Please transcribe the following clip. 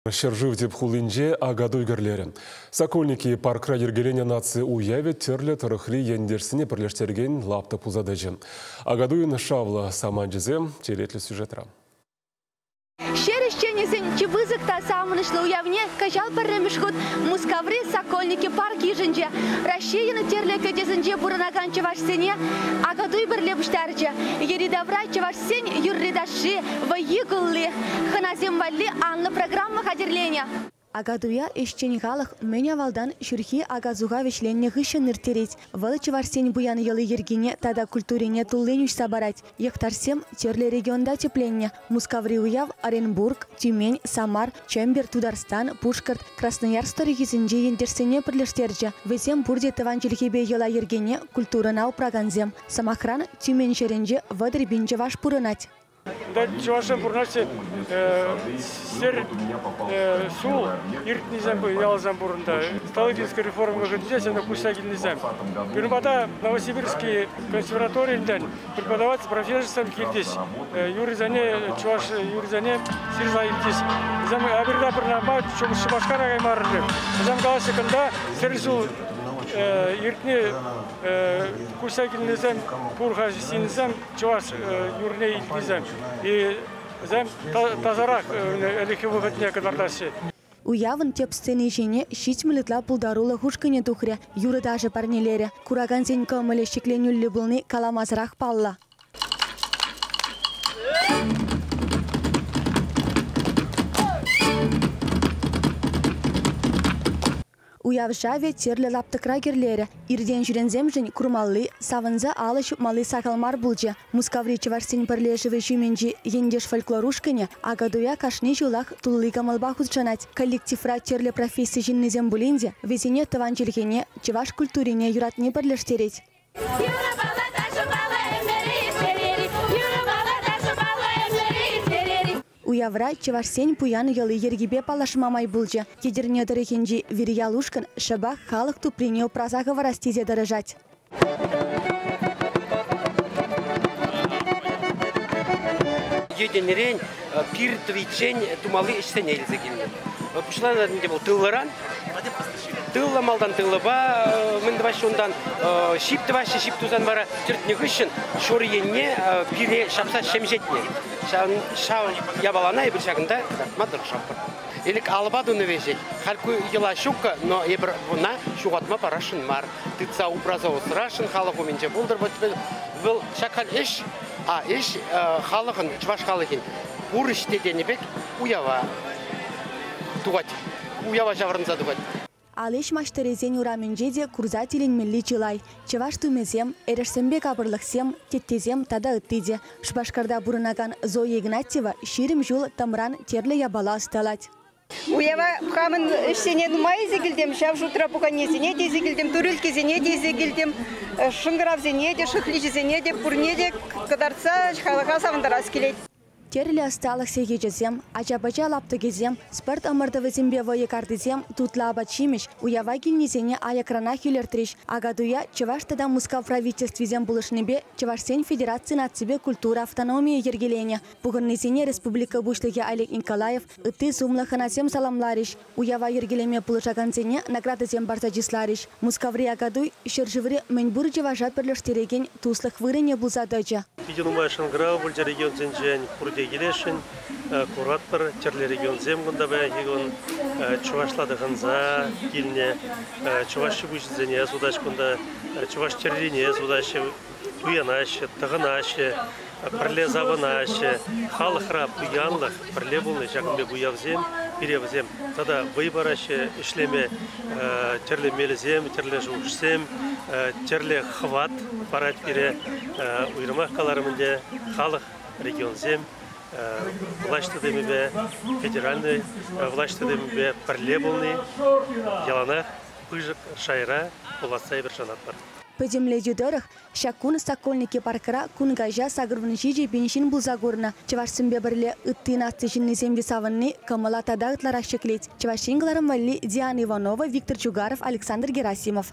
Ҫӗршыв тӗп хулинче Акатуй кӗрлерӗ. Сокольники паркра йӗркеленӗ наци уявӗ тӗрлӗ тӑрӑхри ентешсене пӗрлештерекен лаптӑк пулса тӑчӗ. Акатуйӑн шавлӑ саманчӗсем черетлӗ сюжетра. Ҫӗр ӗҫченӗсен чи пысӑк та савӑнӑҫлӑ уявне кӑҫал пӗрремӗш хут Мускаври Сокольники парк йышӑнчӗ. Раҫҫейӑн тӗрлӗ кӗтесӗнче пурӑнакан чӑвашсене Акатуй пӗрле пуҫтарчӗ. Йӗри-тавра чӑваш Сен юрри-ташши, вӑййи-кулли, хӑнасем валли анлӑ программа хатӗрленӗ. Акатуя ӗҫчен халӑх мӗн авалтан ҫурхи ака-суха вӗҫленнӗ хыҫҫӑн ирттерет. Вӑл чӑвашсен пуян йӑли-йӗркине тата культурине туллин уҫса парать. Йӑхташсем тӗрлӗ регионта тӗпленнӗ. Мускаври уяв Оренбург, Тюмень, Самар, Чембер, Тутарстан, Пушкӑрт, Красноярск тӑрӑхӗсенчи ентешсене пӗрлештерчӗ. Вӗсем пурте тӑван чӗлхепе йӑла-йӗркене, культурӑна упракансем. Сӑмахран, Тюменьҫӗрӗнче вӑтӑр пин чӑваш пурӑнать. Кунта чӑвашсем пурӑнаҫҫӗ. Сер ҫул иртнисем ялсем пурӑннӑ. Сталинтинский реформа вӑхӑтӗнче сена куҫса килнисем. Пирӗнпата Новосибирский консерваторийӗнтен преподаватель профессорсем килчӗҫ. Юррисене, чӑваш юррисене сирса илчӗҫ. Вӗсем Аберда пырнапа Шупашкара каймарӑр. Вӗсем калаҫҫӗ кунта сер ҫул иртни Куҫа килнисем, пур-ха ҫынсем чӑваш юррине илтнисем. Вӗсем тасарах ӗлӗкхи вӑхӑтне кӑтартаҫҫӗ. Уявӑн тӗп сцени ҫине ҫитмӗл ытла пултарулӑх ушкӑнӗ тухрӗ, юрӑ-ташӑ парнелерӗ. Куракансен кӑмӑлӗ ҫӗкленӳллӗ пулни каламасӑрах паллӑ. Уяв шавӗ тӗрлӗ лаптӑкра кӗрлерӗ. Иртен-ҫӳренсемшӗн курмалли, савӑнса алӑ ҫупмалли сахал мар пулчӗ. Мускаври чӑвашсен пӗрлешӗвӗ ҫумӗнчи Ентеш фольклор ушкӑнӗ Акатуя кашни ҫулах тулли кӑмӑлпа хутшӑнать. Коллективра тӗрлӗ професси ҫыннисем пулин те, вӗсене тӑван чӗлхене, чӑваш культурине юратни пӗрлештерет. Уявра чӑвашсен пуян йӑли-йӗркипе паллашма май пулчӗ. Етӗрне тӑрӑхӗнчи Вирьялушкӑн шӑпах халӑх туприне упраса хӑварас тесе тӑрӑшать. Етӗнрен пир тӑвиччен тумалли ӗҫсене илсе килнӗ. Пуҫланӑ ӗнтӗ вӑл тылран. Тыллӑ малтан тыллӑпа мӗн тӑваҫҫӗ унтан ҫип тӑваҫҫӗ, ҫип тусан вара тӗртнӗ хыҫҫӑн ҫур енне пире ҫапса ҫемҫетнӗ. Ҫав япалана эпир ҫакӑнта кӑтартма тӑрӑшатпӑр. Элек алӑпа тунӑ веҫех. Халь ку йӑла ҫуккӑ, но эпир буна ҫухатма парасшӑн мар. Тытса упраса усрасшӑн халӑх умӗнче пултӑр. Вот вӑл ҫак халь ӗҫ, а ӗҫ халӑхӑн, чӑваш халӑхӗн пур ӗҫ те тенӗ пек уява тухать. уява ҫаврӑнса тухать. Алиш маҫтӑрӗсен урамӗнче те курса тӗлӗнмелли чылай. Чӑваш тумӗсем, эрешсемпе капӑрлӑхсем, теттесем тата ытти те. Шупашкарта пурӑнакан Зоя Игнатьева ҫирӗм ҫул тӑмран тӗрлӗ япала ӑсталать. Уява хамӑн ӗҫсене нумай илсе килтӗм, ҫав шутра пуканесене те илсе килтӗм, турилккесене те илсе килтӗм, шӑнкӑравсене те, шӑхличӗсене те, пурне те кӑтартса халӑха савӑнтарас килет. Тӗрлӗ ӑсталӑх сехечӗсем, ача-пӑча лаптӑкӗсем, спорт ӑмӑртӑвӗсемпе вӑйӑ картисем, тутлӑ апат-ҫимӗҫ, уява килнисене аякранах илӗртрӗҫ. Акатуя Чӑваш тата Мускав правительствисем пулӑшнипе Чӑвашсен федераци наципе культура автономийӗ йӗркеленӗ. Пухӑннисене республика Пуҫлӑхӗ Олег Николаев, ытти сумлӑ хӑнасем саламларӗҫ. Уява йӗркелеме пулӑшакансене наградӑсем парса чысларӗҫ. Мускаври Акатуй ҫӗршыври мӗнпур чӑваша пӗрлештерекен туслӑх вырӑнӗ пулса тӑчӗ. Питӗ нумай шӑнкӑрав пулчӗ регионсенчен, пурте килесшӗн. Куратпӑр, тӗрлӗ регионсем кунта паянхи кун чӑвашла тӑхӑнса килнӗ. Чӑваш ҫипуҫӗсене сутаҫҫӗ кунта, чӑваш тӗррине сутаҫҫӗ. туянаҫҫӗ, тӑхӑнаҫҫӗ, пӗрле савӑнаҫҫӗ. Халӑхра пуянлӑх, пӗрле пулни, ҫакӑн пек уявсем, пире вӗсем тата вӑй параҫҫӗ ӗҫлеме. Тӗрлӗ мелӗсем, тӗрлӗ шухӑшсем, тӗрлӗ хӑват парать пире. Уйрӑмах каларӑм ӗнтӗ, халӑх, регионсем влаҫ тытӑмӗпе, федеральнӑй влаҫ тытӑмӗпе пӗрле пулни яланах пысӑк шайра пуласса эпир шанатпӑр. Пӗтӗмлетӳ тӑрӑх, ҫак кун Сокольники паркра кун каҫа сакӑрвун ҫичӗ пин ҫын пулса курнӑ. Чӑвашсемпе пӗрле ытти наци ҫыннисем те савӑнни кӑмӑла тата ытларах ҫӗклет Чӑваш Ен кӑларӑм валли Диана Иванова, Виктор Чугаров, Александр Герасимов.